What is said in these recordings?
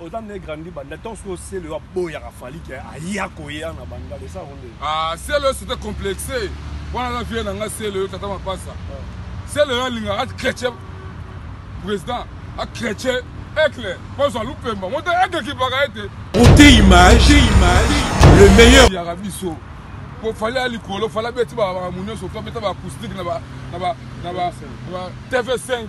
Oza ne grandi banda temps que Selo aboyaka Fally ke aya koya na banda le sa ronde. Ah Selo c'était complexe. Wana na vie na nga Selo yo tata mapasa. Selo yo alinga at chrétien président a chrétien Aigle bazwa lupemba moto Aigle kipaka ete. Montez image, image, le meilleur. Yaka biso. Ko fallait ali kolo fallait beti ba ba munyo so to beta ba acoustique na ba na ba na ba TV5.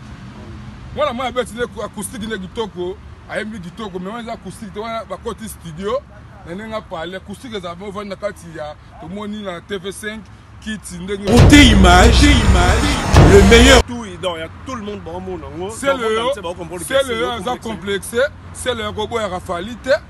Wana mwa beti ne acoustique ne kitoko. ayembi kitoko mais wana eza acoustique te wana bakoti studio na ndenge apale acoustique ezala mpe ovandi na kati ya tomoni na tv5 kiti ndenge kote image image le meilleur tout ident ya tout le monde baomona yango sele yo aza complexe sele yo akoboyaka fali te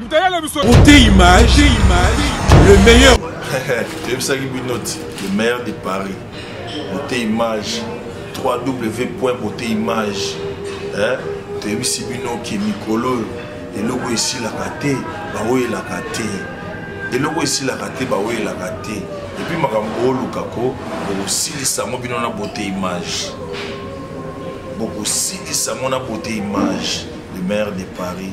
Moute image, image, le meilleur. toyebisaki bino ti le meilleur de paris bote image 3w point bote image toyebisi bino ke mikolo oyo eloko esilaka te baoyelaka te eloko esilaka te baoyelaka te epuis makambo booluka ko bokosilisa yango bino na bote image bokosilisa yango na bote image le maire de paris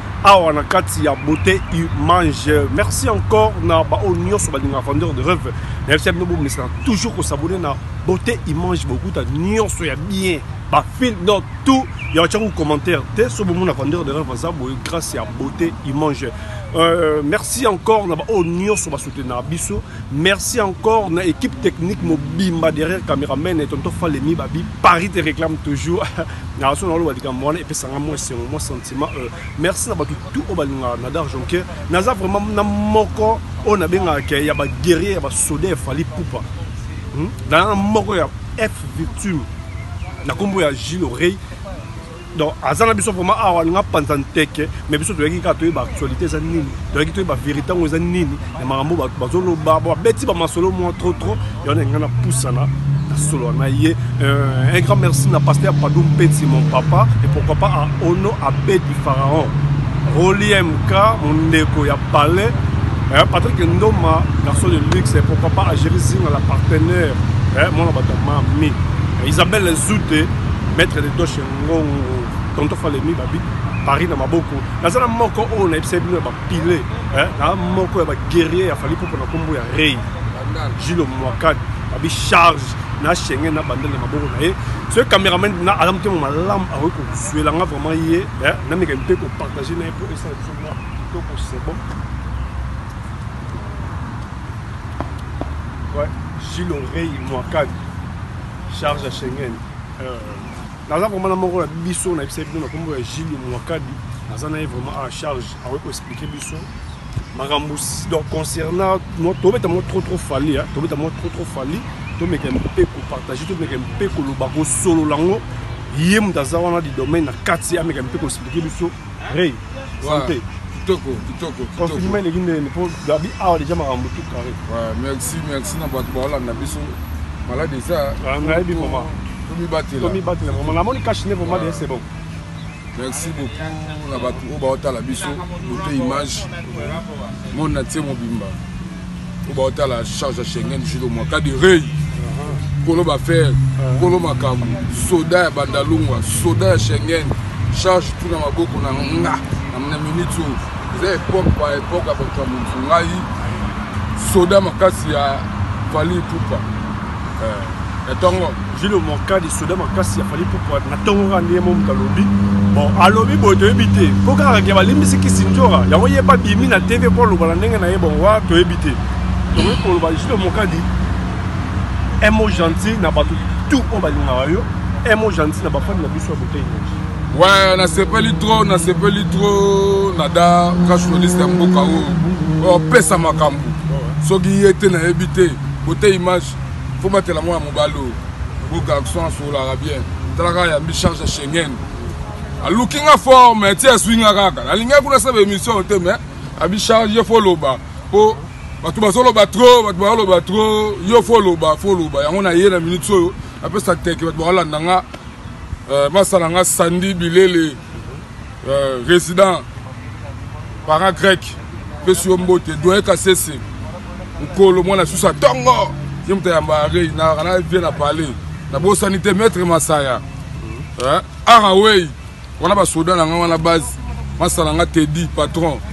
awa na kati ya beauté image merci encore na baoyo nyonso balingaka vendeur de rêve nayebisi ya bino bomesana toujours kosabone na beauté image bokuta nyonso ya bien bafilm donc tout ya batyango commentaire te so bomona vendeur de rêve aza boye grâce ya beauté image euh, merci encore na baoyo nyonso basoutenaka biso Merci encore na équipe technique mobimba derrière cameraman et tonton Falemi Babi Paris te réclame toujours na son alo badika mwana et pesanga moi c'est mon sentiment euh, merci na batu tout au balinga na dar jonker naza vraiment na moko on a bien que ya ba guerrier ya ba soda fali poupa hmm? na moko ya F victime na kombo ya Gilles Oreille donc aza na biso vraiment awa alinga panza nteke mais biso toyaki kaka toyeba actualité eza nini toyaki toyeba vérité yango eza nini na makambo bazoloba babeti bamasolo mwa trop trop yango na ngai napusana solo na ye euh, un grand merci na pasteur padou mpeti mon papa et pourquoi pas à ono abedi pharaon roliemk mondeko ya palais eh, patrick ndoma garçon de luxe et pourquoi pas agerisinga la partenaire eh, mwana bato ya mami isabelle zute Maître de Doche Ngongo, Tonton Falemi Babi, Paris na maboko. Naza na moko oyo nayebisa bino ya ba pile, hein, na moko ya ba guerrier ya Fally Ipupa na kombo ya Rey. Jules Mwakad, Babi charge na Schengen na bandel na maboko na ye. Ce cameraman na alam te malam awe ko suela nga vraiment ye, hein, na meka mpe ko partager na ye pour essayer de faire tout pour c'est bon. Ouais, Jules Rey Mwakad. charge ya Schengen euh, naza komona moko na biso na yebisa bino na kombo ya Gilles Mwakabi naza na ye vraiment à charge akoki ko expliquer biso makambo donc concernant tobeta moko trop trop fali tobeta moko trop trop fali tomeka mpe kopartage tomeka mpe koloba kosolola yango ye moto aza wana du domaine na kati ameka mpe koexplike biso Ray, santé. Kitoko, kitoko, kitoko. Confinement eleki ndenge po Gabi awa deja makambo tout carré. Ouais, merci, merci na bato baolanda biso. Malade eza. Ah, nayebi maman. Tomibatela. Tomibatela maman. Namoni cash ne vraiment de c'est bon. Merci beaucoup na bato oyo baotala biso bote image monde na tie mobimba. po baotala charge ya schengen julo mwaka de rei kolo bafere kolo makambo soda ya bandalungwa soda ya schengen charge tu na maboko na nga na minute oyo eza epoke pa epoke ya bato ya motu ngai soda makasi ya vali pupa na tongo jilo mokadi soda makasi ya fali pupua na tongo kaka ndenge momutu alobi bon alobi boye toyebi te mpo kaka ke balimbisi kisinjora yango ye babimi na tv mpo aloba na ndenge na ye bon wa toyebi te tokoki koloba jilo mokadi emo gentil na bato tout oyo balingaka yo emo gentil na bafani na biso ya botei nyonso Ouais, nasepeli trop, nasepeli trop nada ka journaliste ya mboka oyo opesa makambo soki ye te nayebi te Beauté image faut batela mwana mobali oyo bo garçon asololaka bien tala kaka yambi charge ya schengen aluki nga fort mais ti azwi nga kaka nalingaki kuna saba émission te mais abi charge ye fo loba mpo bato bazoloba trop bato bazoloba trop yo fo loba fo loba yango na ye na minute oyo apesa teke bato bakolanda nga euh, basala nga sandi bilele euh, résident para grec pesi yo mbote doye kasese mokolo mwana susu atongo ye moto ayamba rei nayaka na vie na palais nabosani te maître masaya eh, arawei wana basoda na ngai wana base masala nga tedi patron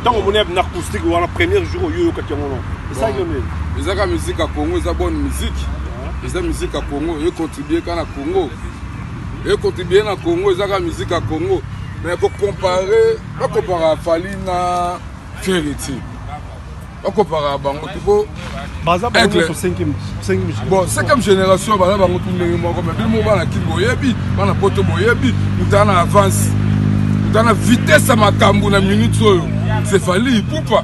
ntango omoni na acoustique wana premier jour oyo oyokaki yango no esalaki yo nini ezaka musique ya congo eza bonne musique eza musique ya congo econtribue ka na congo econtribue na congo ezaka musique ya congo mais kocompare bakompara fali na feriti bakopaka bango te po baza bango cinquième bon cinquième génération baza bango tu ndenge moko mais bino moko bana kin boyebi bana poto boyebi mutana na avance mutana na vitesse ya makambo na minute oyo cefali ipupa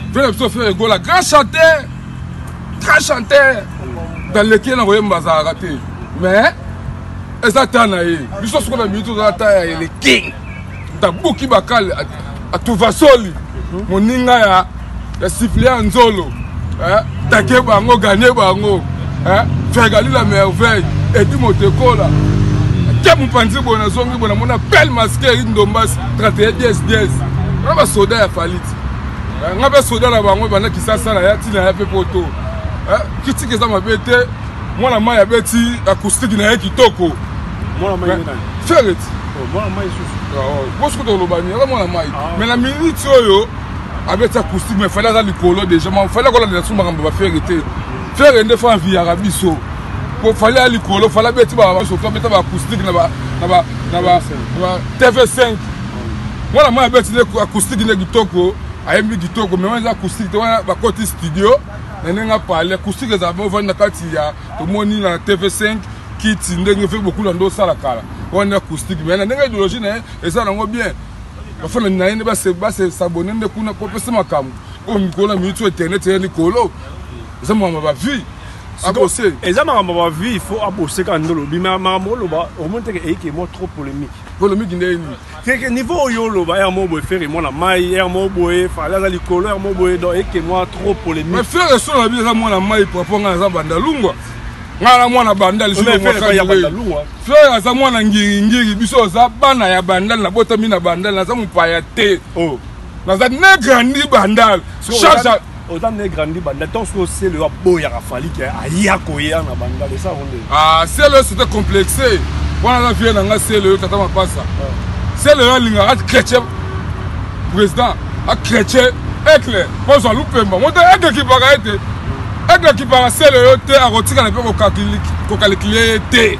mpe na biso fere egola grand chanteur grand chanteur daleki ye na koyemba azalaka te mais eza ta na ye biso soko na minute oza ta ya ele king tabuki bakali atuvasoli moninga ya ya sifle ya nzolo eh, take bango gane bango eh, fergali la merveille edi motekola tia mopanzi boye nazongi boye namona pele maske eri ndombasi 31 dies dies wana basoda ya faliti eh, nga mpe soda na bango ebanda kisasa na ya ntina ya mpe poto kritike eza mabe te mwana mai abeti akoustiki na ye kitoko mwana mai nani ferret oh, mwana mai susu bosi ah, oh, kuta oloba nini aza mwana mai ah, mais na minute oyo abeti acoustique mais fale aza likolo déjà ma fale akolandela so makambo bafere te fere nde fa enviyaka biso po fale ya likolo fale abeti basoto abeta baacoustique na tv 5 mwana mai abeti nde acoustique nde kitoko ayembi kitoko mais wana eza acoustique te wana bakoti studio na ndenge apale acoustique ezala bovandi na kati ya tomoni na tv5 kiti ndenge fe bokula nde osala kala wana acoustique mais na ndenge idéologie na ye eza nango bien bafana na ye nde basabone nde kuna po pesa makambo oyo mikolo na miniti oyo internet eya likolo eza makambo ya bavie abose eza makambo ya bavie il faut abose kaka nde olobi makambo oloba omoni teke eyike mwa trop polémique polémique nde nini keke niveau oyo oloba heure moko boye fere mwana mai heure moko boye fale aza likolo heure moko boye donc eke mwa trop polémique mais fere solo abi eza mwana mai papa ngai aza banda lungwa ngai na mwana banda lisusufer aza mwana ngiringiri biso aza bana ya bandal nabotami na bandal naza mopaya te oh. naza negrandi bandal oza ne grandi banda temps oyo selo aboyaka fali ke aya koya na bandal eza yango nde ah, selo sete complexe wana na vie na ngai selo yo tata mapasa ah. selo yo alingaka chrétien président achrétien aigle pozwa lupemba moto aigle ekipaka ye te aigle ekipaka selo yo te akotikala mpe kokalikile ye te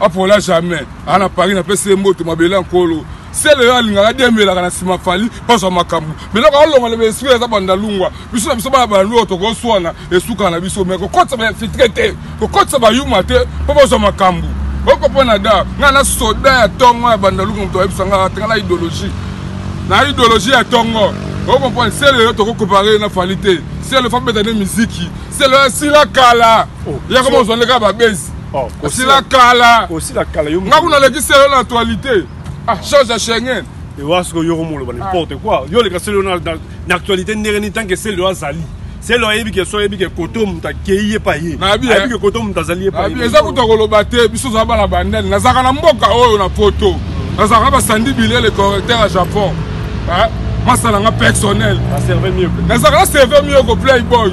apola jamais aa na paris napesi ye mbote mabele ya nkolo sele oyo alingaka dembelaka na nsima fali bazwa makambo biloko alonga loba esika eza bandalungwa biso na biso bana bandalungwa tokoswana esukaka na biso me kokotisa bainfiltre te kokotisa bayuma te mpo bazwa makambo okopona da ngai na soda ya ntongo ya bandalungwa moto ayebisa ngai atanga na idéologie na idéologie ya ntongo okomprendre sele oyo tokokompare na fali te sele fabeta nde miziki sele oyo asila kala oh, yakoma ozwa nde kaka babezi Oh, asila kala osila kala yo nga kuna leki selo na actualité ah chose ya Schengen ewa siko yo komoloba ah. n'importe quoi yo leka selo na na actualité ndenge ni tant que selo azali selo ayebi ke so ayebi ke koto moto akei ye pa ye ayebi eh. ke koto moto azali ye pa ye eza kuta koloba te biso toza bana bandani nazalaka na mboka oyo na poto nazalaka basandi bile le correcteur ya japon eh, masala nga personnel nazalaka na serve mieux ko playboy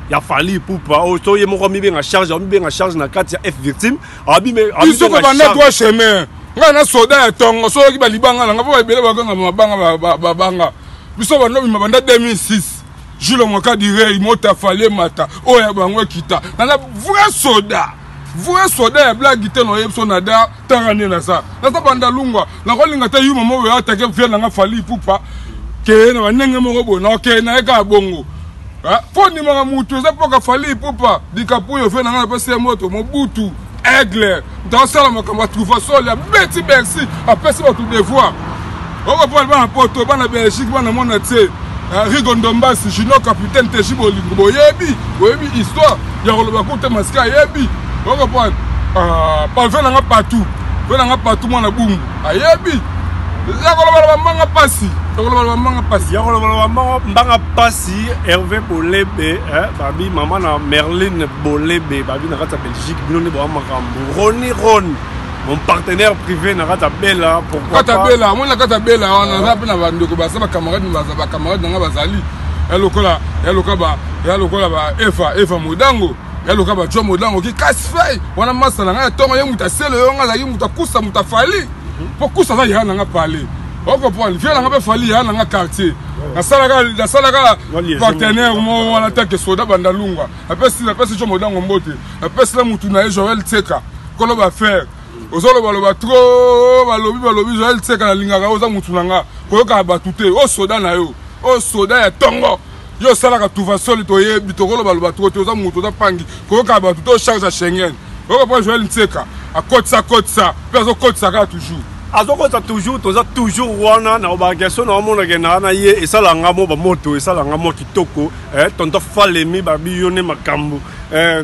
ya fali pupa oyo oh, to ye moko amibenga charge amibenga charge na kati ya f victime biso mpe banda twa chemin ngai na soda ya tongo soki balibanga na ngai mpo baebele bakanga mabanga babanga biso banda obima banda 2006 jules mokadirei mota fali emata oyo ya bango ekita nana vrai soda vrai soda ya blagi te na oyebi so nada tanga nde naza naza banda lungwa nakolinga te yuma moko oyo atake vie na nga fali ipupa keye na bandenge moko boye nakokeye na ye kaka bongo mpo ah, ndimaka motu eza mpoka fali ipupa likapo oyo vie na nga napesi ye moto mobutu aigle moto asala makambo atruva sole abeti bercy apesi bato devoir Oko pole bana poto, bana Belgique, bana mona tse. Euh, Rigo Ndombasi, Junior Capitaine, Teji Bolingo, boyebi, boyebi histoire. Ya koloba koute masika yebi. Oko pole. Ah, pa vela nga partout. Vela nga partout mwana bungu. Ayebi. Ya koloba la bambanga pasi. Ya koloba la bambanga pasi. Ya koloba la bambanga mbanga pasi. Hervé Bolebe, eh, babi maman na Merlin Bolebe, babi na kata Belgique, bino ne bo amakambo. Roni Roni. mon partenaire privé na kata bela pourquoi kata bela moi na kata bela wana naza pe na ba ndeko ba sa ba camarades na ba camarades na nga bazali ya lokola ya lokola ba ya lokola ba Eva Eva Modango ya lokola ba John Modango ki casse feuille wana masa na nga ya tongo ye muta selo yo nga la ye muta kusa muta fali mhm. po kusa za ya na nga parler okomprendre vie nanga mpe fali ya nanga quartier nasalaka nasalaka partenaire moko wana take soda bandalungwa apesi apesi jo modango mbote apesi na motu na ye joel tseka koloba fer ozoloba loba trop balobi balobi joel tseka nalingaka yo oza motu na nga koyokaka bato te o soda na yo o soda ya tongo yo osalaka tuvasoli toyebi tokoloba loba trop te oza motu oza pangi koyokaka bato te ocharge ya schengen okopa joel ntseka akotisa kotisa mpe azokotisa kaka toujours azokotisa toujours toza toujours wana na obagestion na omonake na na ye esala nga mo bamoto esala nga mo kitoko eh, tonto falemi babi yo nde makambo eh,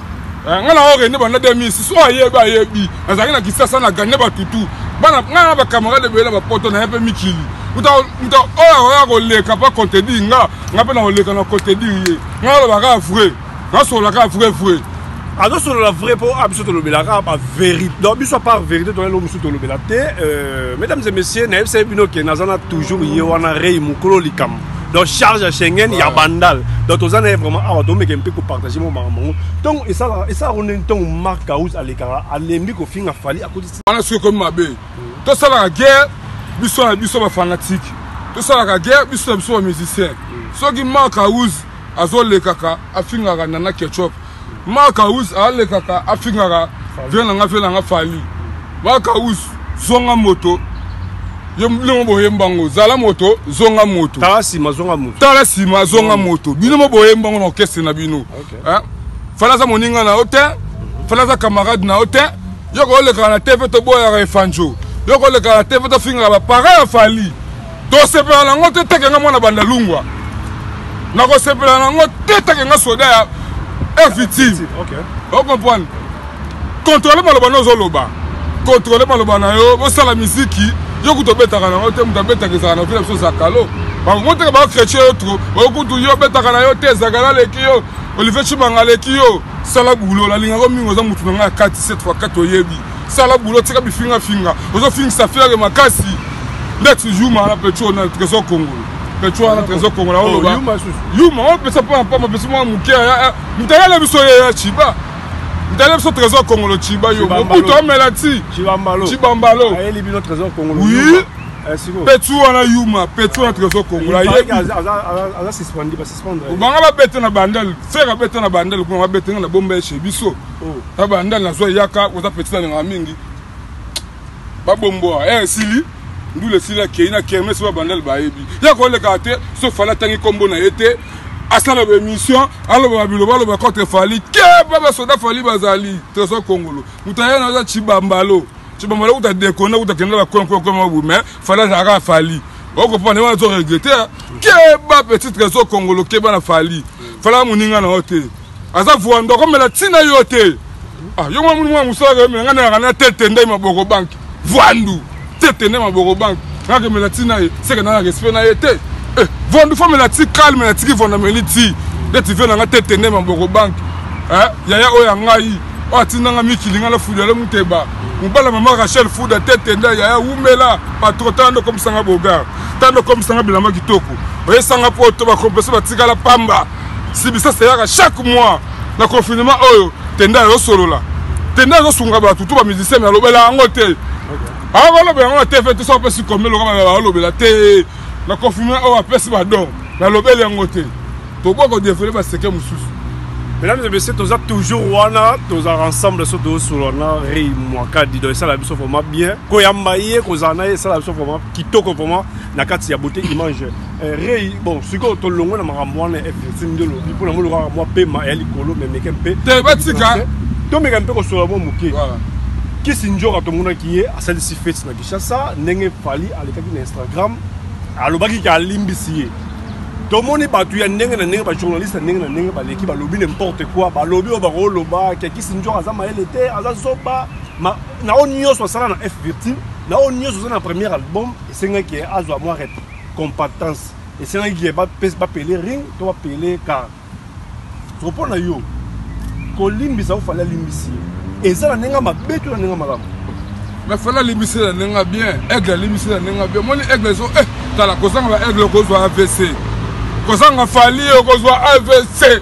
Eh, nga na orene banda 2006 oyo ayebi ayebi nazalaki na kisasa na gane batutu bana nga na bacamarade ebele na bapoto na ye mpe mikili moto oyo akoya koleka mpo akontedire nga nga mpe na koleka na kontedire ye nga naloba kaka vrai nasolola kaka vrai vrai azosolola vrai mpo a biso tolobelaka ba vérité donc biso apart vérité toyelo mosusu tolobela te euh, mesdames et messieurs nayebisaki bino ke naza na toujours ye wana rei mokolo likambo donc charge ya schengen ya bandal donc toza na ye vraiment awa tomeke mpe kopartage mo makambo yango ntongo esalaka nde ntongo mark kaus alekaka alembi kofinga fali akotisi wana soki ekomi mabe tosalaka guerre biso na biso bafanatike tosalaka guerre biso na biso bamusicien soki mark kaus azolekaka afingaka nana ketchup makawus alekaka afingaka vie na nga vie na nga fali makawus zonga moto bino boye mbango zala moto zonga moto tala nsima zonga moto tala nsima zonga moto bino mo boye mbango na orkestre na bino fala aza moninga na yo te fala aza camarade na yo te yo koolekaka na tv toboyaka efanjo yo koolekaka na tv tofingaka bapareil ya fali tosepela na yango te teke nga mwana banda lungwa nakosepela na yango te teke nga soda ya fitime ocomprendre kontrole maloba na ozoloba kontrole maloba na yo bosala miziki yo kutu obetaka na yango te moto abetaka ezaka na vila biso zakalo bango teke bakretie yo tro okutu yo obetaka na yo te ezakala aleki yo olivier cimanga aleki yo sala bulo nalingako mingi oza motu na ngai ya kati cette fois kati oyebi sala boulot tika bifinga finga ozo fingisa fiere makasi lex yuma na petro na trésor congolo petro wana trésor congolo oloba yuma wana pesa mpo na mpamba pesa mwa moke mtalala biso ye ya chiba mtala biso trésor congolo chiba yo mobutu amela ti chibambalo oui petu wana yuma petu wana trésor kongola banga babete na bandele fere abete na bandele kuna babete nga na bomba eshe biso na banda nazwa eyaka oza petit nalingaka mingi babomboa eh, esili ndule esili akei na kermes oyo babandale bayebi ya kolekaka te so fali atangi nkombo na ye te asala baémission alobaka biloba aloba contre fali keba basoda fali bazali trésor kongolo moto aye naza cibambalo cibambalo kuta dekona kuta kenda bakonkokomabu mais fali azalaka fali okopana wana azo regrete keba petit trésor kongolo keba na fali fala moninga na yo te aza vuando akomela ntina yo te ah, yo mwana mwana mosalaka yo melanga nayaka na tete ndai maboko banki vuandu tete ndai maboko banki nakemela ntina ye seke na na respect na ye te eh, vuandu famela ti calme na tiki vuandu ameli ti nde tive nanga tete ndai maboko banki eh, yaya oyo ya ngai oyo atindanga mikili ngai nafuda le muteba mobala mama rachel fuda tete ndai yaya wumela patro tala nde okomisanga bogar tala nde okomisanga bilamba kitoko oyesanga poto bakompese batikala pamba sibisasa eyaka chaque mois na confinement oyo tenda ezosolola tenda ezosunga bato to bamusicien me alobela yango te awa balobela yango na tv te soki apesi kombe loka balobela te na confinement oyo apesi badon me alobeli yango te tokoki kodevele baseke mosusu mesdames et messieurs toza toujours wana tozalaka ensemble so tozosolola na rei mwakadi donc esala biso vraiment bien koyamba ye kozala na ye esala biso vraiment kitoko vraiment na kati ya beauté image Eh, rei bon sikoyo tolongwe na makambo wana ya fnsi nde olobi mpo na moni lokaka mwa pema ya likolo memeke mpe te batika tomeka mpe kosola mwa moke kisi njoka tomonaki ye asalisi feti na kinshasa ndenge fali alekaki na instagram alobaki ke alimbisi ye tomoni bato ya ndenge na ndenge bajournaliste ya ndenge na ndenge baleki balobi n'importe quoi balobi oyo bakoloba ke kisi njoka aza mayele te aza zoba na oyo nyonso asala na f virtile na oyo nyonso oza na premier album esengaki azwa mwa rep compactance esengaki ke bapele ring to bapele car soko mpo na yo kolimbisa ofali alimbisi ye eza na ndenge mabe to na ndenge malamu me fali alimbisi na ndenge bien aigle alimbisi na ndenge bien omoni aigle ezo eh, tala kozanga ba aigle okozwa avc kozanga fali okozwa avc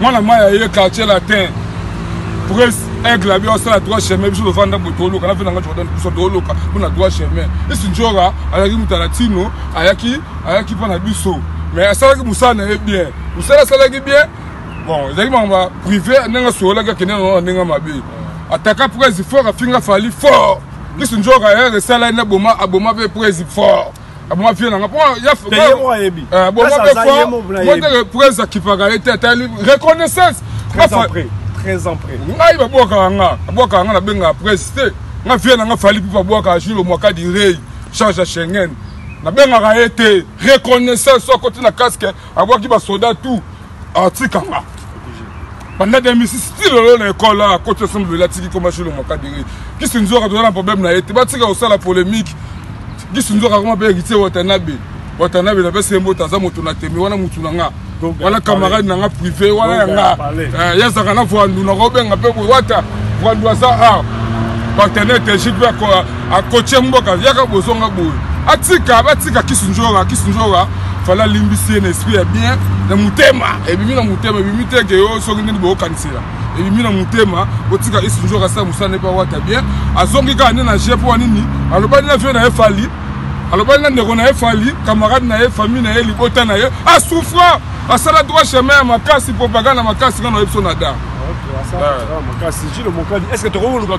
mwana maya ye quartier latin pres aigle abi osala droit chemin biso tofanda bo toluka na venanga jordan biso toluka mpona droit chemin isi njora ayaki moto latino ayaki ayaki mpo na biso mais asalaki mosala na ye bien mosala asalaki bien bon ezalaki makambo ya privé ndenge asololaki akende nango na ndenge mabe ataka pres fort afinga fali fort isi njora ere esala ye na boma aboma mpe pres fort aboma vie nanga po aboma pe fo moteke prese akipaka ye te atali reconnaissance ngai babwakaka nga abwakaka nga nabengaka prese te nga vie nanga fali pipo abwakaka julo mwaka direi change ya schengen nabengaka ye te reconnaissance akoti na casque abwaki basoda tout atikanga banda 2006 ti lelo na ekole a koti ensemble lela tiki koma shilo mokadiri kisi nzoka toza na problème na ye te batika kosala polémique kisi nzoka koma mpe héritier watanabe watanabe napesi ye mbote aza moto na teme wana motu na nga wana camarade na nga privé wana ya nga eh, yazaka na voandu nakobenga mpe boye wata voandu aza a partenaire tegique mpe akotie mboka yaka bozonga boye atika batika kisunjora kisunjora fala alimbisi ye na esprit ya bien na motema ebimi na motema ebimi te ke yo soki nini bokokanisela ebimi na motema botika kisunjora asala mosala nepa wata bien azongi kaka nde na je mpo ya nini alobani na vie na ye fali alobani na ndeko na ye fali camarade na ye famille na ye libota na ye asouffra asala droit chemin ya makasi propagande ya makasi nga na yebiso na da makasi jilo mokadi est ce que tokoluka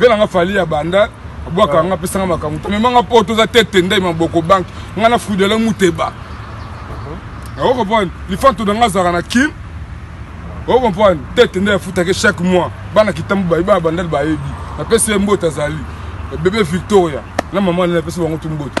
Vela nga fali ya banda bwaka nga pesa nga makambo to mema nga po toza tete ndai maboko banki nga na fudele muteba uh-huh. o comprendre lifanto na nga azalaka na kin o comprendre tete nde afutaki chaque mois bana kitambo bayi bana bandali bayebi napesi ye mbote azali bebe victoria na mama nde napesi bango tu mbote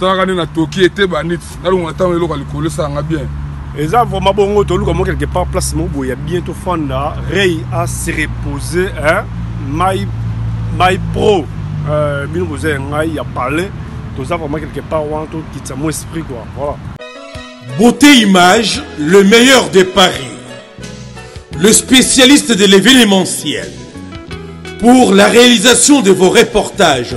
talaka nde natoki ete banit nalongola ntango eloko ya likolo esala nga bien eza vraiment bongo toluka mwa quelque part place moko boye ya bien tofanda rei a se repose mai mai pro euh, bino boza ya ngai ya palais toza vraiment quelque part wana tokitisa mwa esprit quoi voilà beauté image le meilleur de paris le spécialiste de l'événementiel pour la réalisation de vos reportages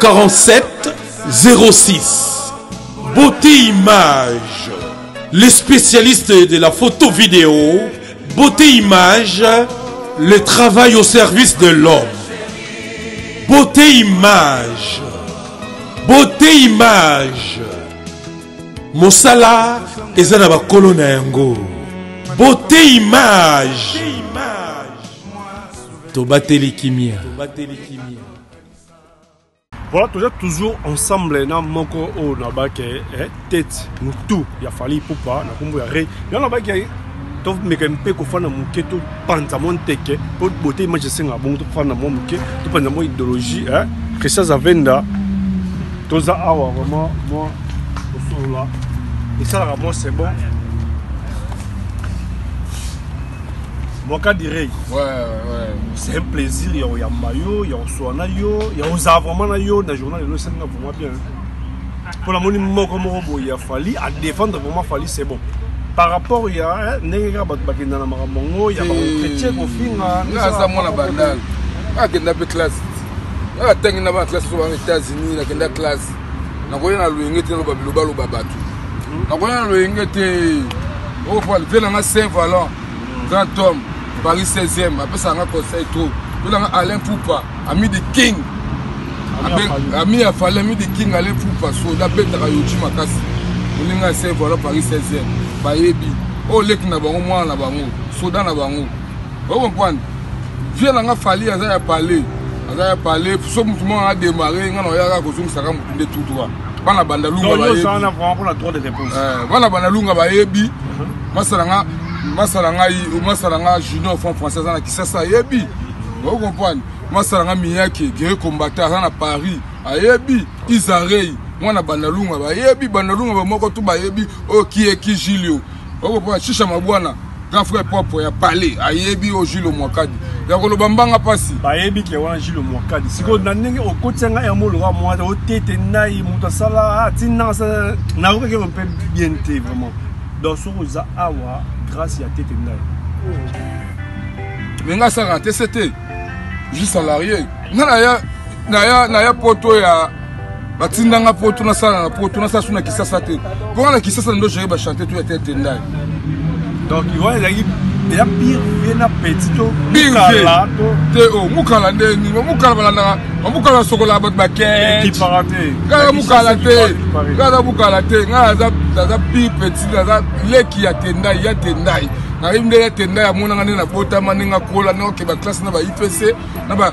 47 06 beauté image le spécialiste de la photo vidéo beauté image le travail au service de l'homme beauté image beauté image mosala eza na bakolo na yango beauté image tobateli kimia Voilà, toza toujours ensemble na moko oyo nabaki eh, tete mutu ya fali ipupa na kombo ya re yango nabaki tomeka mpe kofanda moke topanza mwa nteke mpo bote image esengaka bongo tofanda mwa moke topanza mwa idéologie eh? christian zavenda toza awa vraiment mwa kosolola esalaka mwa c'est bon Bokadi Rey. Ouais, ouais. C'est un plaisir ya oyamba yo, ya oswana yo, ya ozala vraiment na yo na journal elo esenga vraiment bien. Pour la moni moko moko boye ya Fally à défendre vraiment Fally c'est bon. Par rapport ya ndenge kaka bato bakenda na makambo yango ya bakokretier kofinga. Nga aza mwana bandal. Akenda mpe classe. Nga atangi na bana classe oyo bana États-Unis, nakenda classe. nakoya na loyenge te naloba biloba loba bato hmm. nakoya na loyenge te opal vie nanga saint valant hmm. grand homme paris 16e apesaka nga conseil trop vie nanga alain pupa ami de king ami ya fali ami de king alain pupa soda abetaka yoji makasi moninga ya saint valant paris 16e bayebi oyo leki na bango mwana na bango soda na bango Vous comprenez? Vieux na nga Fally aza ya palais. Aza ya palais. So mutu moko a démarrer nga na yaka kozongisa ka mutu nde tout droit. Bana banda lunga ba yebi. Bana banda trop de réponses. Eh, bana banda lunga ba yebi. Uh-huh. Masala nga masala nga masala nga junior franc français na kisasa yebi. Vous comprenez? Masala nga miyake, guerre combattant na Paris. Ayebi Isarei. mwana bandalunga bayebi bandalunga bamoko tu bayebi oyo oh, kieki julio Oko pona shisha mabwana grand frère propre ya palais ayebi o Jules Mwakadi ya koloba mbanga pasi bayebi ke wana Jules Mwakadi siko na ndenge okotia ngai yango lokola mwana otete ngai moto asala atina ah, nayoka ke mpe bien te vraiment donc soki oza awa grâce ya tete ngai me ngai asaka te se te je salarié ngai naya naya naya poto ya batindanga poto nasala na poto nasala su na kisasa te mpo nga na kisasa ndo jere bachante to ya te tendai donc wana ezalaki ya pire vie na petit to mukala to te o oh, mukala nde nini ba mukala balandaka ba mukala basokolaka bato bakekipaka te kaka mukala te kaka mukala te ngai aza aza pire petit aza leki ya tendai ya tendai nayebi nde ya tendai amonanga nde nabotama ndenge akola nokeba classe na ba ipc na ba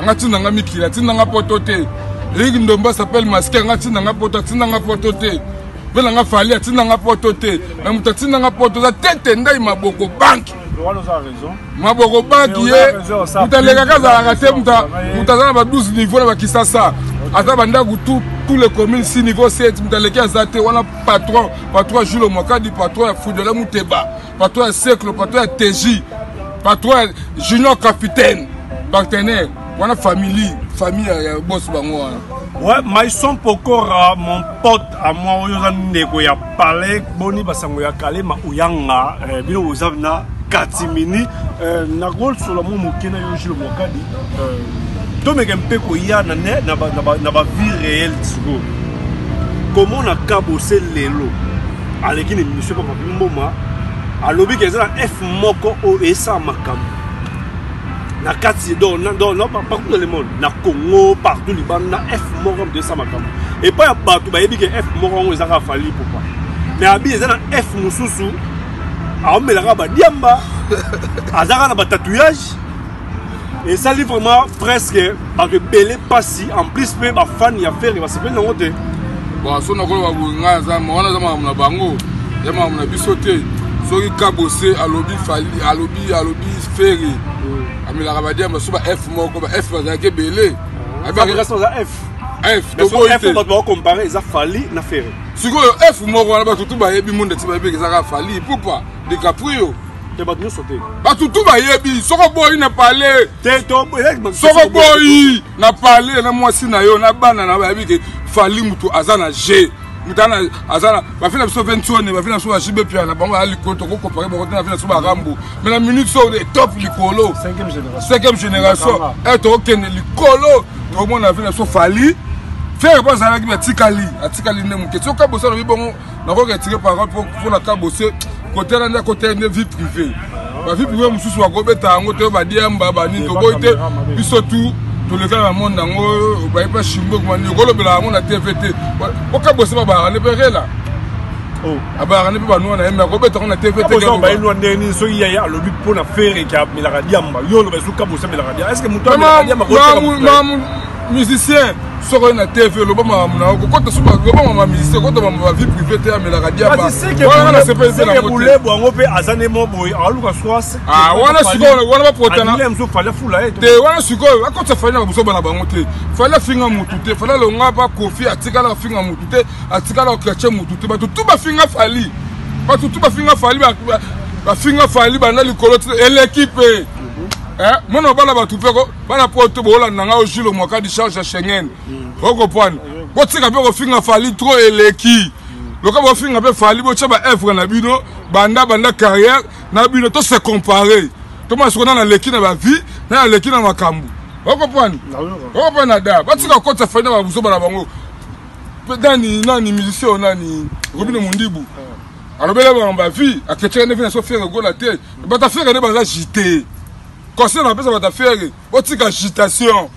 anga tinda nga mikili atinda nga poto te eric ndombo asapele maske anga tinda nga poto atinda nga poto te mpe na nga fali atinda nga poto te me moto atinda nga poto oza tete ndai maboko banki maboko banki ye moto alekaka azalaka te moto aza na ba 12 niveau na bakisasa aza bandako tout tous les communes si niveau 7 moto aleki aza te wana patron patron julo mwakadi patron ya fudela muteba patron ya seclo patron ya teji patron ya junior capitaine partenaire wana famille famille ya bos bango wana ouais maison pokora mon pote à moi oyo oza ndeko ya palais boni basango ya kalema oyanga eh, bino boza na katimini eh, nakosolola mwa moke na yo jule mokadi eh, tomeka mpe koya na ne na bavie réelle sikoyo komona kabose lelo aleki na emission papa mboma alobi ke eza na f moko oyo esala makambo na kati partout le monde na congo partout libanda na f moko moto esala makambo epai ya bato bayebi ke f moko yango ezaka fali popa me abi eza na f mosusu aomelaka badiamba azaka na batatouillage ezali vraiment presque bato ebele mpasi en plus mpe bafani ya fere basepeli nango te bon so nakolo baboyi ngai aza wana aza makambo na bango ya makambo na biso te soki kabose alobi fali alobi alobi fere amelaka badiamba so ba f moko ba f bazalaki ebele ah, baocompare eza fali na fere sikoyo f moko wana bato tu bayebi monde ti bayebi ezaka fali pupa dicaprio te bato nyonso te bato tu bayebi soko boyi na pale soko boyi na pale na mwasi na yo na bana na bayebi ke fali motu aza na je mutana azala bafi na biso vensone bafi na biso bajibe pia na bango ya likolo tokokopake bango te na fi na biso barambo me na minute so top likolo cinquième génération e tokokende likolo tokomona na fi na biso fali fere mpo azalaki me atikali atikali nde moke soki abosa lobi bongo nakoki retire parole mpo na ka bose kotela nde akotela nde vie privée bavie privée mosusu bakobeta yango te badiamba banini toboyi te biso tu tolekana na monde yango baye mpe shimbo ekomani okolobela yango na tv te oka bose babaka nde mpe rela oh. abaka nde mpe banua na ye me akobeta yango na tv tebainua ndenge nini soki yaye alobi mpo na fere ke amelaka diamba yo oloba esuka bose amelaka diamba eske moto amelaka diamba musicien soki oye na tv oloba makambo na yo kokota so loba makambo ya musicien kota makambo ya vie privé te amelaka diabawana na sepeli te nangobulebu yango mpe aza nde mo boye aluka soise ah, wana sikoyo wana bapotana te wana sikoyo akotisa fali na babusoba na bango te fali afinga motu te fali alonga bakofi atikala afinga motu te atikala okrache motu te bato tu bafinga fali bato tu bafinga fali bafinga fali banda likolo eleki mpe eh, mwana obala bato mpe bana poto boolanda ngai ojilo mwaka dicharge ya schengen mm. okopwana botika mpe kofinga fali tro eleki mm. loka bofinga mpe fali botya baevre na bino banda banda carrière na bino to se compare tomona soko nana aleki na bavie nana aleki na makambo okopwana okopwana da batika kokotisa fali na babuzoba na bango nani nani musicien oyo nani robine mm. mondibu ah. alobela bango bavie aketyaka nde vi na so fiere gola te bata fiere nde baza jite conseil na pesa bata ferre botika agitation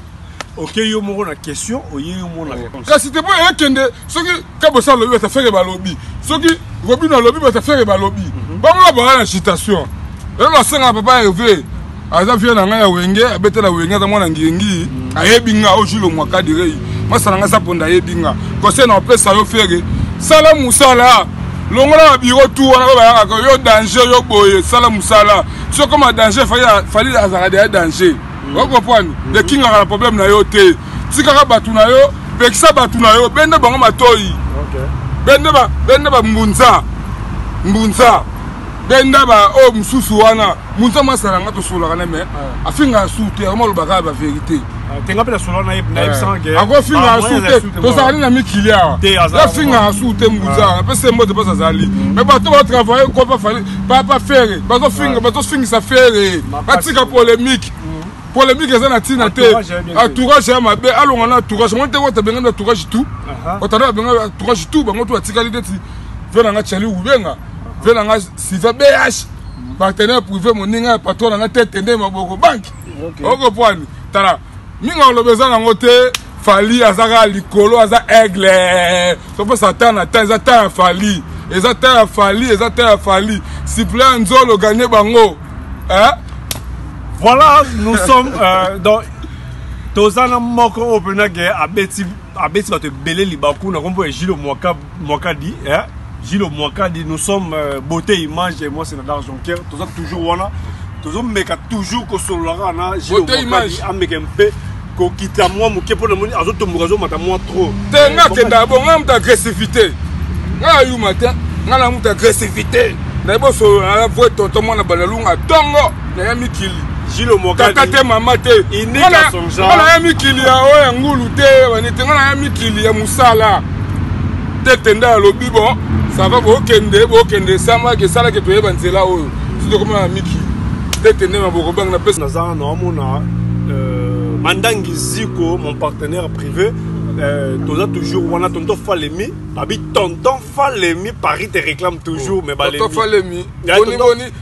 oke yo moko na question oye yo moko na réponse kasi te mpo ekende soki kabosa alobi bata ferre balobi soki robino alobi bata ferre balobi mhm. bango na baa na agitation lelo nasenga papa herve aza vie na ngai ya wenge abetela wenge aza mwana ngiengi mhm. ayebi nga o julo mwakadirei masala ngai saponda ayebi nga conseil na opesa yo ferre sala mosala longola babiro tu wana oyo bayangaka yo danger yo boye sala mosala so comme a danger fali azalaka deya danger mm. okoprendre mm-hmm. ekingaka na problème na yo te tikaka bato na yo pekisa bato na yo bende bango matoi bende bambunza mbunza benda baoyo oh, mosusu wana mbunza mwasala nga tosolaka na me ah. afingaka su te yango malobaka ya baverité akofinga asu te tozali na mikili awa yafinga asu te mbuza apesa mbote mpo azali mm. me bato batravaille kopa fali papa fere bazofinga bazofingisa fere batika polemike mm. polemike eza na ntina te entourage ya mabe alonga na entourage ngo te wata bengani entourage tout otanda babengani entourage tout bango to batikali ndeti ve na nga chali ubenga ve na nga siva bh mm. partenaire privé moninga ya patron na nga te tende maboko banki okay. okopoani tala mingi aloba eza nango te fali aza kaka likolo aza aigle sopesa ta na ta eza ta ya fali eza ta ya fali eza ta ya fali siple ya nzolo gagne bango eh? voilà nous sommes euh, dans toza na moko oyo mpenza ke abeti abeti bato ebele libaku na kombo ya jilo mwaka Mwakadi eh Gilo Mwakadi nous sommes euh, beauté image et moi c'est Nadar Jonker toza toujours wana tozo meka toujours ko sololaka na Gilo Mwakadi ameka mpe ko kita mwa moke mpo namoni azo tomboka azo mata mwa trop te nga kenda bon nga muta agressivité nga yuma te nga na muta agressivité na bo solola na vrai tonton mwana banalunga tongo na ya mikili kaka te mama te nga na ya mikili ya oyo ya ngulu te wanete nga na ya mikili ya mosala te tenda ya lobi bo sava bokende bokende esamaki esalaki toyeba nzela oyo sotokomana na mikili te tende maboko bange na pesa naza naomona euh, mandangi ziko mon partenaire privé Euh, toza toujours wana tonton falemi babi tonton falemi paris te réclame toujours oh, mais balemi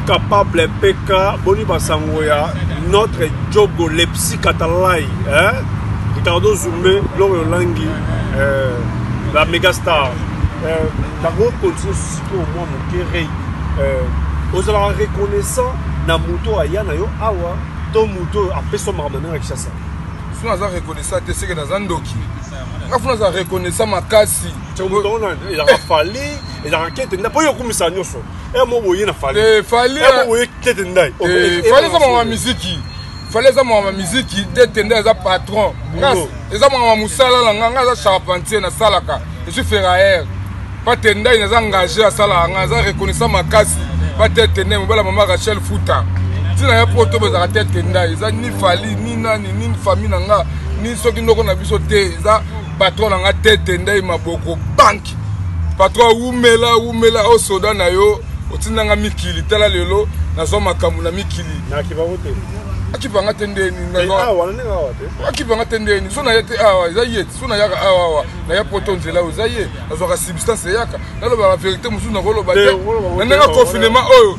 capable PK boni basango ya notre jogo lepsi katalai eh? ricardo zumbe loro langi eh, la mega star eh, bango continue sikoyo mwa moke rei eh, ozalaka reconnaissant na moto aya na yo awa to moto oyo apesa makambo na yo na kinshasa so naza reconnaissant te seke naza ndoki nga funa aza reconnaissant makasi fali ezalaka kete nda mpo yo okumisa nyonso Eh, mo boye na fali eh, fali eh, mo boye tete ndai oh, eh, fali eza mwa miziki fali eza mwa miziki tete ndai eza patron ngas eza mwa mosala na nga nga aza charpentier nasalaka je suis ferrailleur pate ndai naza engage asalaka nga aza reconnaissant makasi pa tete ndai mobala mama rachel futa ntina ya poto bozalaka tete ndai eza ni fali ni nani ni famille na nga ni soki ndoko na biso te eza patron na nga tete ndai maboko banki patron wumela wumela o oh, soda na yo otindanga mikili tala lelo nazwa makambo na mikili akipanga te ndeni akipanga te ndeni so naya te awa eza ye so nayaka awa awa naya poto nzela oyo eza ye nazwaka substance eyaka nalobaka verité mosusu nakoloba te na ndenge confinement oyo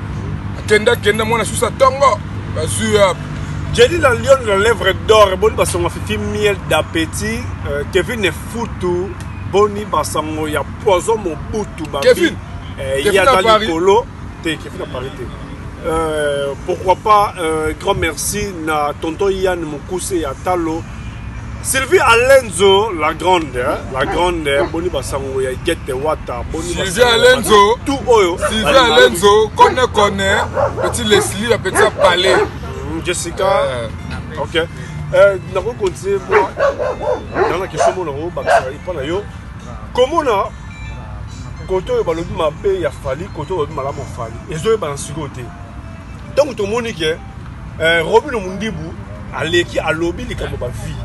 kenda kenda mwana susa tongo bazwi wapi Jelly la lionne la lèvre d'or boni basongo fifi miel d'appétit euh, Kevin Futu boni basango ya poison mobutu babi Kevin eh, Kevin à Paris Kolo te Kevin à Paris te euh, pourquoi pas euh, grand merci na tonton Yann Mukuse ya Talo Sylvie Alenzo, la grande, hein, la grande, hein, boni basango ya Igete Wata, boni Sylvie Alenzo, tout oyo. Sylvie Alenzo, connaît connaît, petit Leslie, la petite palais. Mm, Jessica, euh. ok. Euh, nako continuer moi. Dans la question mon nako bakisa ipa na yo. Comment na koto oyo balobi mabe ya Fally, koto oyo balobi malamu ya Fally. Ezo yeba na sikoyo te. Ntango tomoni ke Eh, Robino Mundibu aleki alobi likambo ba vie.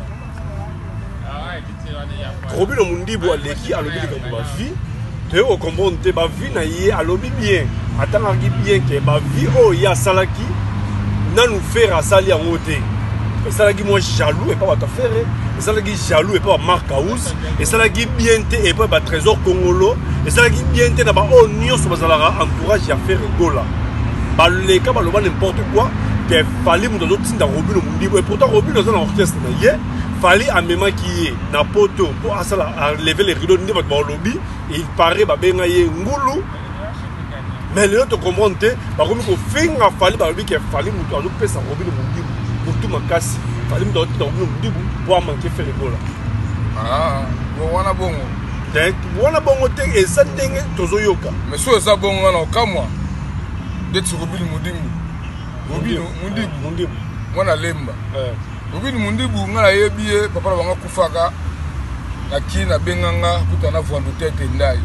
Robino Mundibu aleki alobi likambo ba vie. Toye ko comprendre te ba vie na ye alobi bien. Atangaki bien ke ba vie oyo ye asalaki nanu Ferre asali yango te. Esalaki mwa jaloux epa bato ya Ferre esalaki jaloux epai ya mark house esalaki bien te epai ya batrésor congolo esalaki bien te na baoyo oh, nyonso bazalaka entourage ya ferre gola baleka baloba n'importe quoi ke fali moto azotinda robino mondibo epourtant robino aza na orchestre na ye fali amemaki ye na poto mpo asala aleve le rido nde bato balobi il paraît babenga ye ngulu mais lelo to comprendre te bakomi kofinga fali balobi ke fali moto azopesa robino modibu motu makasi fali moto azotinda robino modibu po amanke fele gola ah, wana bongo te wana bongo te eza ndenge tozoyoka mais so eza bongo wana okamwa ndeti robino modibu robino modibu mwana lemba eh. Robin Mundibu nga nayebi ye papa na bango akufaka na kin abenga nga kuta na vwandu tete ndai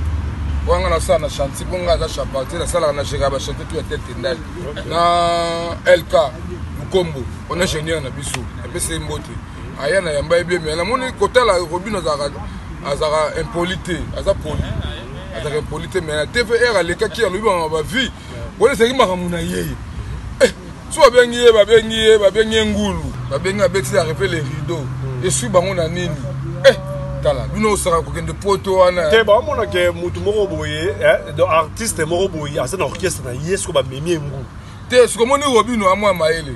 mpo nga nasala na chantier mpo nga aza charpentier nasalaka na jeka bachantier tu ya tete ndai na lk lukombo on ingénieur na biso apesi ye mbote aya na yamba ye bien me namoni kotala robin azalaka azalaka impoli te aza poli azalaka impoli te me na tvr alekaki alobi bamama bavie wana ezalaki makambo na ye eh, so babengi ye babengi ye babengi ye ngulu babengi abeti ya repe le rideau hmm. esui bango na nini eh, tala bino osaka kokende poto wana te baomona ke motu moko boye eh, do artiste moko boye aza na orchestre na ye soko bamemi ye ngulu te sokomoni robino amwa mayele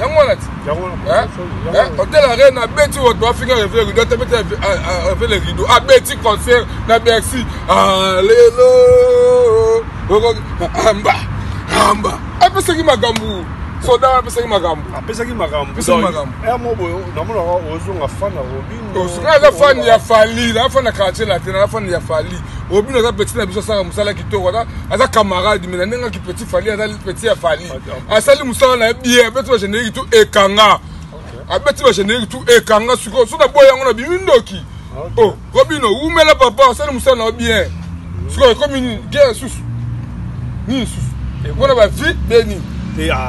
yango wana ti hotel arena abeti bato bafinga reve rido atabeti avele rido abeti concert na bercy alelo amba amba apesaki makambo soda apesaki makambo apesaki makamboyamobonamonaka eh, ozonga fan ya robinosoka aza fan ya fali na fan ya quartier latin aza fan ya fali robino aza petit na biso asaka mosala kitoko aza camarade me na ndenge aki petit fali aza petit ya fali asali mosala na ye bien abeti ba générique tout ekanga abeti ba générique tout ekanga sikoyo so na boye yango na bimi ndoki o oh, robino wumela papa asali mosala na yo bien sikoyo ekomi nini gere susu nini susu mpona bavie be nini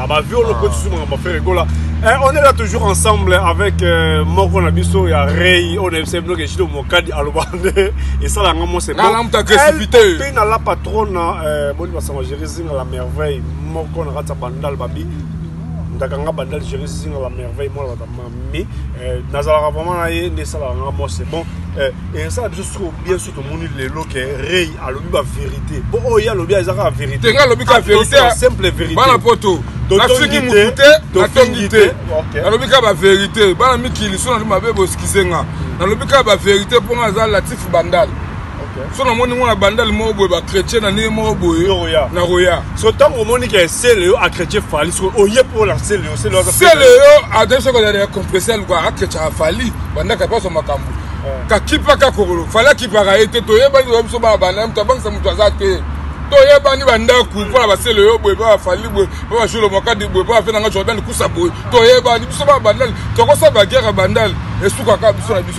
bavie oloko susu makambo afere ekola Eh, on est là toujours ensemble avec euh, moko na biso ya rei oyo na biso bino keshito mokadi aloba nde esala yango mose pe na la patronne euh, boni basanga jerisi na la merveille moko na kati ya bandal babi ndaka nga bandal géri zinga ba merveille mwana bata mami eh, nazalaka vraiment na ye nde esalaka nga moi c'est bon eh, esala biso siko bien so tomoni lelo ke rei alobi ba vérité po oyo oh, ye alobi aza kaka vérité nga alobi kaka vérité ah, simple vérité bana poto nafingi motu te natongi te nalobi kaka ba vérité bana mikili so nalobi mabe boskize nga nalobi kaka ba vérité mpo nga aza latif bandal so namoni ngo na bandale moko boye bachrétien na ndenge moko boye na koya so ntango omoni ke sele yo achrétien fali so oye mpo na sele yo sele yo adai soki ozala ya compresseur luka achrétiaka fali bandaka mposo makambo kakipaka kokolo fali akipaka ye te toyebani oya biso bana bana moto abangisa moto aza te toyebani bandako mpo na basele yo boye mpo bafali boye mpo bajolo makadi boye mpo bafe na nga jordan kusa boye toyebani biso bana bandale tokosala bagere bandale esukaka biso na biso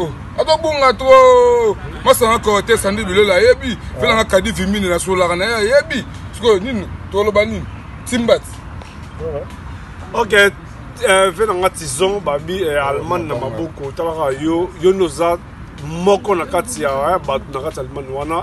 Oh, akobunga trop masanga corte sandi bilolo ayebi felanga ah. kadi vimini na solaka na ye ayebi sikoyo nini toloba nini timbati ok eh, ve nanga tison babi eh, allemagne na maboko talaka yo yo nde oza moko na kati ya eh, bato na kati ya allemagne wana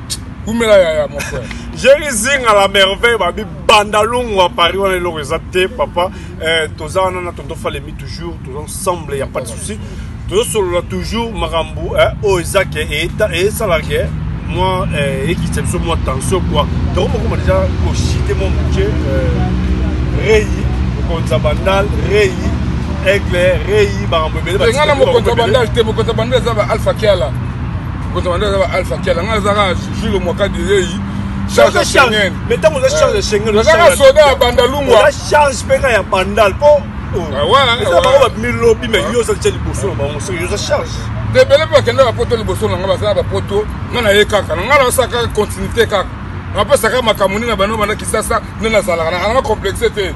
kumela yaya mon frère jeri zinga la merveille babi banda longwa paris wana eloko eza te papa eh, toza wana na tonton falemi toujours toza ensemble ya pas de souci tozosolola toujours makambo eh, oyo eza ke esala ke mwa eh, ekitisa biso mwa tension kua toko mokoma deja koshite mwa moke eh, rei mokonzi ya bandal rei aigle rei makambo ebele nga na mokonzi ya bandal te mokonzi ya bandal eza ba alpha kiala kozala nde aza ba alpha kiala ngai azaka julo mwaka direi charge ya schengen mais ntango oza charge ya schengen ozaka soda ya bandalungwa oza charge mpe kaka ya bandal mpo eza bango babimi lobi mais yo ozali tya liboso na bango soki oza charge te ebele mpe bakenda bapoto liboso na ngai bazala bapoto ngai na ye kaka na ngai naosaka continuité kaka napesaka makambo nini na bando banda kisasa nde nazalaka na nanga complexe te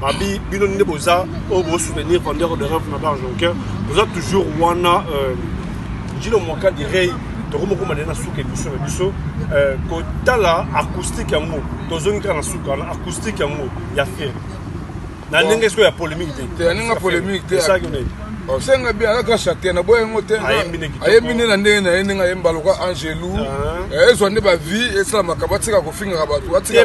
babi bino nde boza oyo bosoutenir vendeur de rêve na barge aucun boza toujours wana euh, jino mwaka direi tokomokoma nde na suka emission na biso euh, kotala acoustique yango tozongi kaka na suka wana acoustique yango ya fere na ndenge sikoyo ya polémique te ya ndenge polémique te osenga bien aza kaka chate na boya yango te ayembi nde na ndenge na ye ndenge ayemba lokola angelu ah. eh, ezwa nde bavie esala makambo atika kofingaka bato atika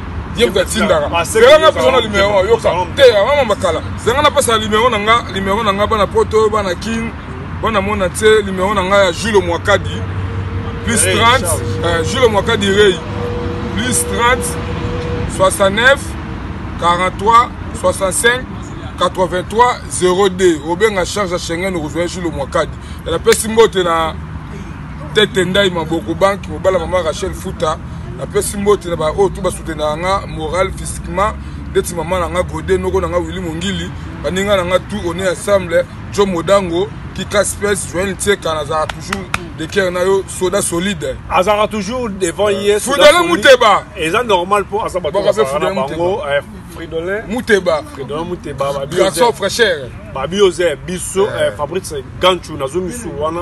ye moto atindaka yanga nga pesa na numero yoka te yanga mama kala yanga napesa numero na nga numero na nga bana poto bana kin bana mona te numero na nga ya julo mwakadi plus 30 euh, julo mwakadi rei plus 30 69 43 65 83 02 obenga charge ya schengen okozwa ye julo mwakadi napesi mbote na tete ndai maboko banki mobala mama rachel futa napesi mbote na baoyo tu basutenaka nga moral physiquement ndeti mama na nga gode noko na nga wili mongili baninga na nga tu one ensemble jo modango kika space joel ntieka nazalaka toujours de cœur na yo soda solide azalaka toujours devant euh, ye fudele muteba eza normal mpo aza bato bazalaka na bango eh, fridolin muteba fridolin muteba garçon fraîcheur babi oza biso eh, eh. fabrice ganchu nazo misu wana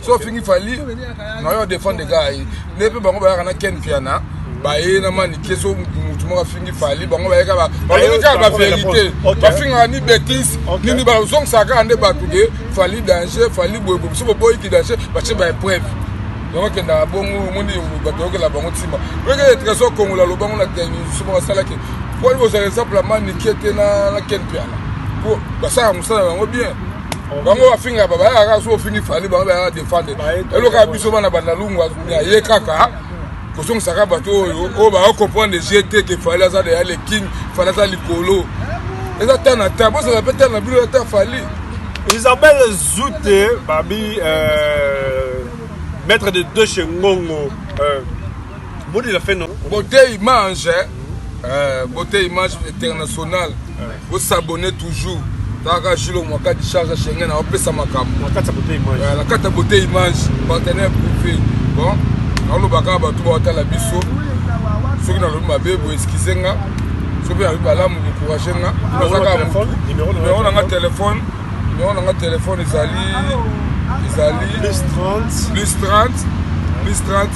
so ofingi fali nayo adefendre gai nde mpe bango bayaka na ken mpiana baye na manike so motu moko afingi fali bango bayeka balongi kaka baverité bafingaka ni bétise nini bazongisaka kaka nde bato de fali danger fali boye bobiso boboyi ki danger batie baepreuve yango akendaka bongo omoni bato yokela bango ntima oyokele trésor kongola lobango na telemisu moko asalaki mpo libozala exemple ya manike te na ken mpiana mpo basalaka mosala yango bien bango bafinga bayaka kaka soki ofingi fali bango bayaka defendre elokaka biso bana bandalungwa aye kaka kozongisaka bato oyo oyo baokomprendre je te ke fali aza deya le king fali aza likolo eza ta na ta bozala mpe ta na bino ya ta fali isabelle zute babi euh, maître de deux chez ngongo euh, bodi la fe no bote image euh, bote image internationale Bo s'abonner toujours. Taka Julo Mwakati charge Schengen na opesa makambo. Na kata beauté image. Ouais, na kata beauté image partenaire privé. Bon, na loba ka ba tuba tala biso. Soki na lobi mabe bo excusez nga. Soki na lobi balamu ko courage nga. Na zaka téléphone, numéro na nga téléphone. Numéro na nga téléphone ezali ezali plus 30 plus 30 plus 30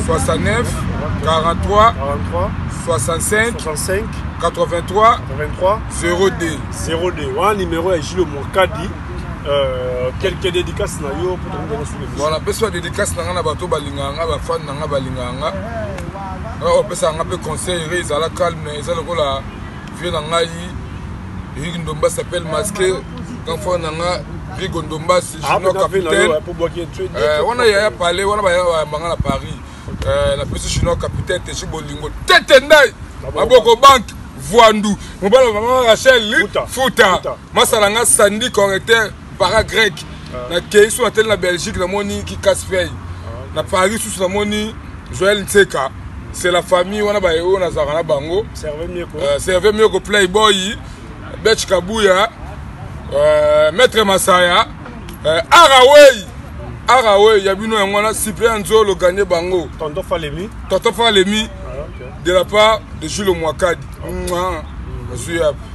69 43 43 65 65 83 83 02 02 wana numéro ya Gilles Mokadi Euh, quelques dédicaces na yo mpo tokoki kona suki voilà apesi ba dédicace na ngai na bato balingaka ngai bafane na ngai balingaka ngai ngai opesaka ngai mpe conseil re ezala calme eza lokola vie na ngai eric ndomba s'appelle masque kanfo na ngai rigo ndomba sijino ah, capitaine euh, wana yaya palais wana bayaka bayamba ngai na paris Euh, na pesi chinois capitaine te ci bolingo tete ndai maboko banki voandu mobala mama rachel futa masala nga sandi correcteur para grec ah. nakei so nateli na belgique namoni kikas fey ah. na paris susu namoni joel nseka c'est la famille wana baye oyo nazalaka na bango serve mioko euh, playboy bech kabuya euh, maître masaya eh, arawei arawei ya bino yango wana cyprien nzolo gagne bango tonton falemi tonton falemi ah, okay. de la part de jules mwakadi ozwi okay. yapi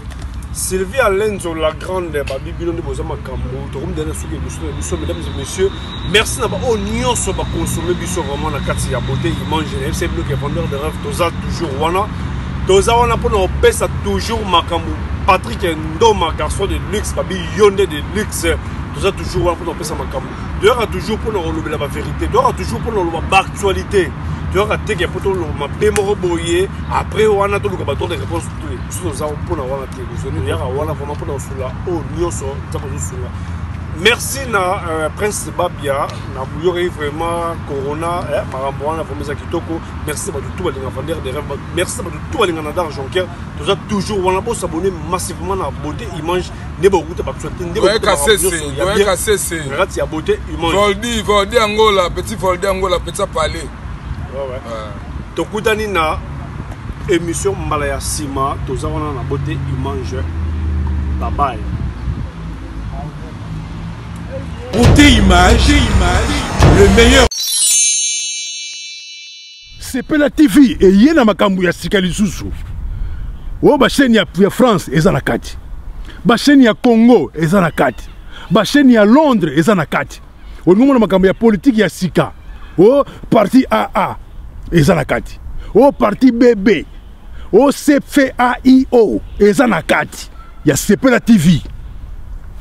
sylvie alenzo la grande babi bino nde boza makambo tokomidana soki biso na biso mesdames et messieurs merci na baoyo nyonso bakonsome biso vraiment na kati ya beauté image na fc bloc ya vendeur de rêve toza toujours wana toza wana mpona kopesa toujours makambo patrick ndoma garçon de luxe babi yo nde de lix toza toujours wana mpona kopesa makambo toyaka toujours mpona kolobela baverité toyaka toujours mpona koloba baactualité toyaka teke mpo toloba mabe moko boye après wana toluka bato de réponse te biso toza mpona wana te toyaka wana vraimen mpona kosunga oyo nyonso nzambe azosunga merci na euh, prince babia na boyokaki vraiment corona eh, makambo wana vraimen eza kitoko merci na bato tu balinga vander de rêve merci na bato tu balinga na dar jonker toza toujours wana bosabone massivement na beauté image nde bokuta bakuta te nde bokuta kasese doyen kasese na kati ya beauté humaine voldi voldi angola petit voldi angola petit palais ouais ouais ah. tokutani na émission mbala ya sima toza wana na beauté humaine bye bye Beauté image, image, le meilleur. sepela tv eye na makambo ya sika lisusu oyo basheni ya, ya france eza na kati basheni ya congo eza na kati basheni ya londres eza na kati olingi omona makambo ya politiki ya sika o parti aa eza na kati o parti bb OCFAIO eza na kati ya Sepela TV.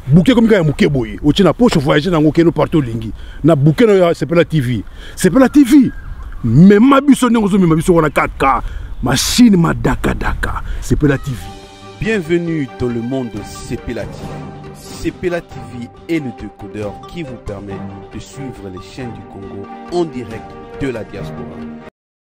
Bouquet comme ya muke boye, otie na poche voyager nango keno partout lingi. Na bouquet na ya Sepela TV. Sepela TV. Mema biso ndenge ozo mema biso wana kaka machine madaka daka. Sepela TV. Bienvenue dans le monde de Sepela TV. Sepela TV est le décodeur qui vous permet de suivre les chaînes du Congo en direct de la diaspora.